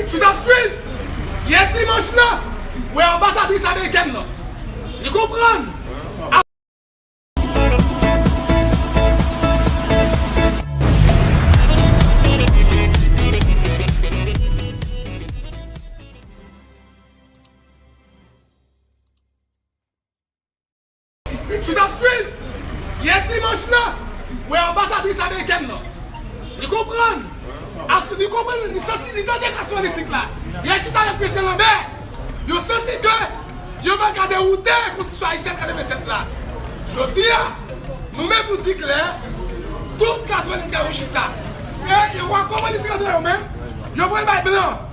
Si nap swiv, yè dimanch la, wè anbasadris amerikèn lan. Li konprann. Miksik ap swiv! Yè dimanch la, wè anbasadris amerikèn lan. Li konprann, ak li konprann, li santi, li tande klas politik la. Li al chita avèk Prezidan Lambert. Yo santi ke yo pa ka dewoute Konstitisyon Ayisyèn 87 la. Jodi a, nou menm nou di klè, tout klas politik la yo chita. E yo wè kòman li se kandida yo menm, yo pral bay blan.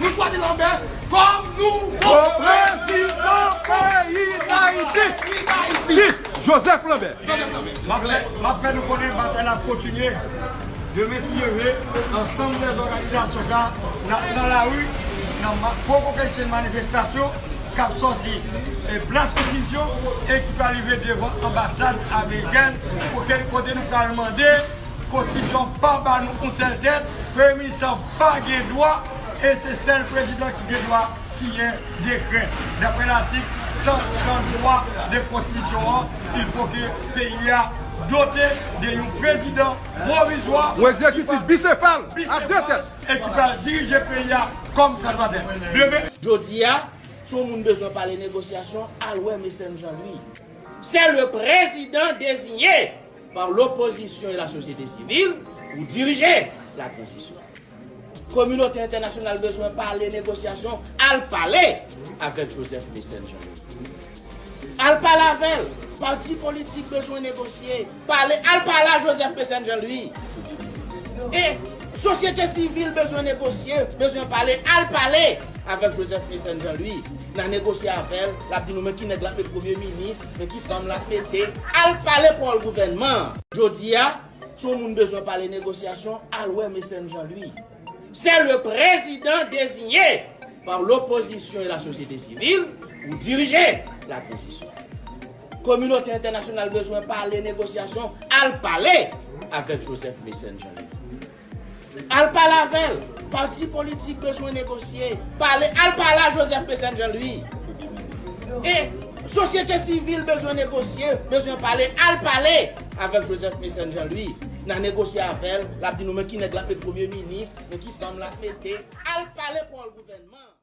Nou chwazi lanbè kòm nouvo prezidan peyi dayiti si joseph lanbè. Map fè nou konnen batay la ap kontinye demen si Dye vle ansanm de zòganizasyon sa nap nan lari nan gwo kokennchenn manifestasyon kap sòti plas konstitisyon e ki pral rive devan anbasad amerikèn kote nou pral mande konstitisyon pa ba nou yon sèl tèt premye minis lan pa gen dwa e se sèl Prezidan ki gen dwa siyen dekrè. Daprè latik 133 de Konstitisyon an, il fo ke peyi a dote de yon Prezidan pwovizwa, Yon egzekitif bisefal a de tèt. E ki pral dirije peyi a kòm sa dwa dèt. Jodi a, si yon moun bezwen pale negosyasyon, al wè Mecène Jean Louis. Se le Prezidan deziye! par l'opposition et la société civile pou dirije la transition. Kominote entènasyonal bezwen pale negosyasyon, al pale avèk Joseph Mécène Jean Leroy. Al pale avè l, pati politik bezwen negosye, pale, al pale a Joseph Mécène Jean Louis. E sosyete sivil bezwen negosye, bezwen pale, al pale avèk Joseph Mécène Jean Louis. N a negosye avè l, l ap di nou men ki nèg l ap met premye minis, Men ki fanm lap mete al pale pawl gouvènman an. Jodia si yon moun bezwen pale negosyasyon al wè Mecène Jean Louis. Se le prezidan dezinye pa lopozisyon e lasosyete sivil pou dirije la tranzisyon. Kominote entènasyonal bezwen pale negosyasyon al pale avèk Joseph Mecène Jean Louis. Al pale avèl, pati politik bezwen negosye, pale al pale a Joseph Pesèn Jean Louis e sosyete sivil bezwen negosye, bezwen pale al pale avèk Joseph Pesèn Jean Louis na negosye avèl lap di nou men ki nèg lap met premye minis, men ki fanm lap mete, al pale pòl gouvènman.